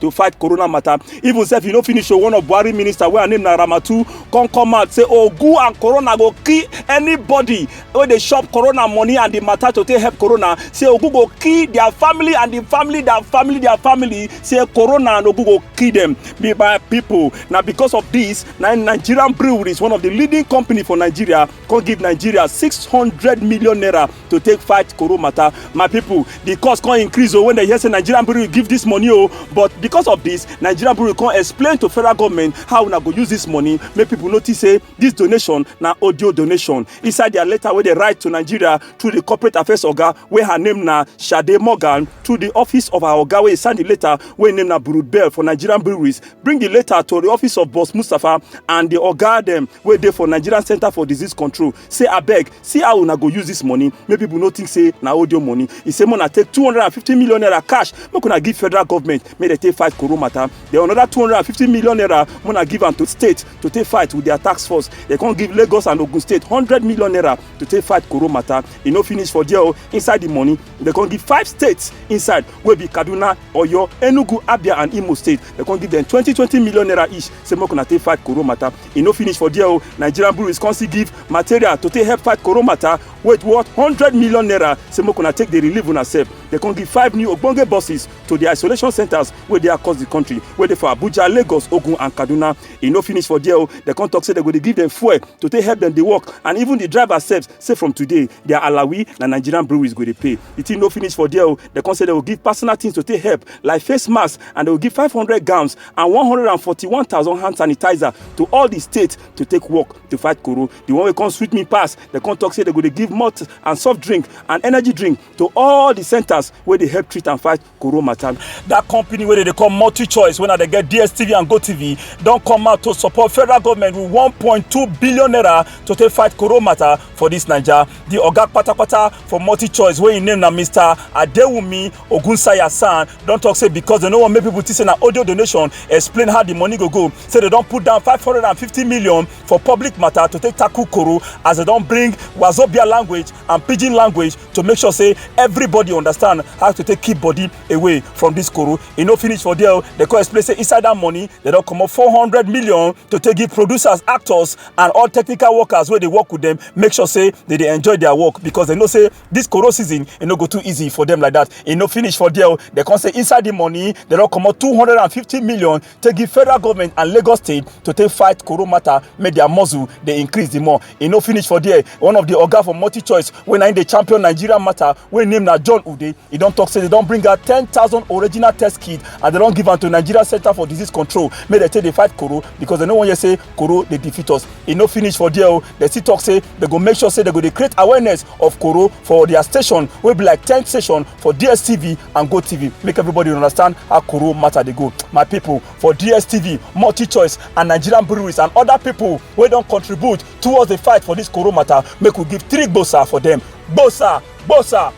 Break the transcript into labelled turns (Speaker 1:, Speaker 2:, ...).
Speaker 1: to fight corona matter even sef you no finish o one of buhari minister wey her name na ramatu come come out say ogu and corona go kill anybody wey dey chop corona money and the matter to take help corona say ogu go kill their family and the family their family their family say corona and ogu go kill them be my people na because of this na nigerian breweries one of the leading company for nigeria come give nigeria six hundred million naira to take fight koro matter my people the cost come increase o oh, when they hear say nigerian brewery give this money o oh. but because of this nigerian brewery come explain to federal government how una go use this money make people notice say this donation na audio donation inside their letter wey they write to nigeria through the corporate affairs oga wey her name na sade morgan through the office of her oga wey sign the letter wey name na burud bell for nigerian breweries bring the letter to the office of boss mustapha and the oga dem wey dey for nigerian center for disease control say abeg see how una go use this money make people no think say na audio money He say make una take two hundred and fifty million naira cash make una give federal government make dem take fight koro matter then another two hundred and fifty million naira make una give am to state to take fight with their tax force dem come give lagos and ogun state hundred million naira to take fight koro matter e no finish for there o oh. inside the money dem come give five states inside wey be kaduna oyo enugu abia and imo state dem come give dem twenty twenty million naira each say make una take fight koro matter e no finish for there o nigerian breweries come still give material to take help fight corona matter wey worth hundred million naira say make una take dey relieve una sef dem come give five new ogbonge buses to di isolation centres wey dey across di country wey dey for abuja lagos ogun and kaduna e no finish for there o dem come talk say dem go dey give dem fuel to take help dem dey work and even di drivers sef say from today their alawi na nigerian breweries go dey pay di thing no finish for there o dem come say dem go give personal things to take help like face masks and dem go give five hundred gowns and 141,000 hand sanitizer to all the states to take work to fight corona. The one wey come sweet me pass, they come talk say they go dey give malt and soft drink and energy drink to all the centers wey dey help treat and fight corona matter. That company wey dey dey call Multi Choice wey na dey get DSTV and GoTV don come out to support federal government with 1.2 billion naira to take fight corona matter for this Naija. The oga patapata for Multi Choice wey im name na Mr. Adewumi ogunsanya san don talk say because dem no wan make people think say na audio donation explain how the money go go say dem don put down five hundred and fifty million for public matter to take tackle koro as dem don bring wazobia language and pidgin language to make sure say everybody understand how to take keep body away from this koro e no finish for there dem come explain say inside that money dem don comot four hundred million to take give producers actors and all technical workers wey dey work with them make sure say they dey enjoy their work because dem know say this coro season e no go too easy for them like that e no finish for there They come say inside the money they don comot two hundred and fifty million take give federal government and lagos state to take fight coro matter make their muscle dey increase the more e no finish for there one of the oga for multi choice wey na im dey champion nigeria matter wey name na john ude e don talk say they don bring out ten thousand original test kits and they don give am to nigeria center for disease control make they take dey fight coro because they no wan hear say koro dey defeat us e no finish for there o dem still talk say dem go make sure say dem go dey create awareness of koro for their station wey be like ten station for dstv and gotv make everybody understand how koro matter dey go my people for dstv multichoice and nigerian breweries and other people wey don contribute towards the fight for this koro matter make we give three gbosa for them gbosa gbosa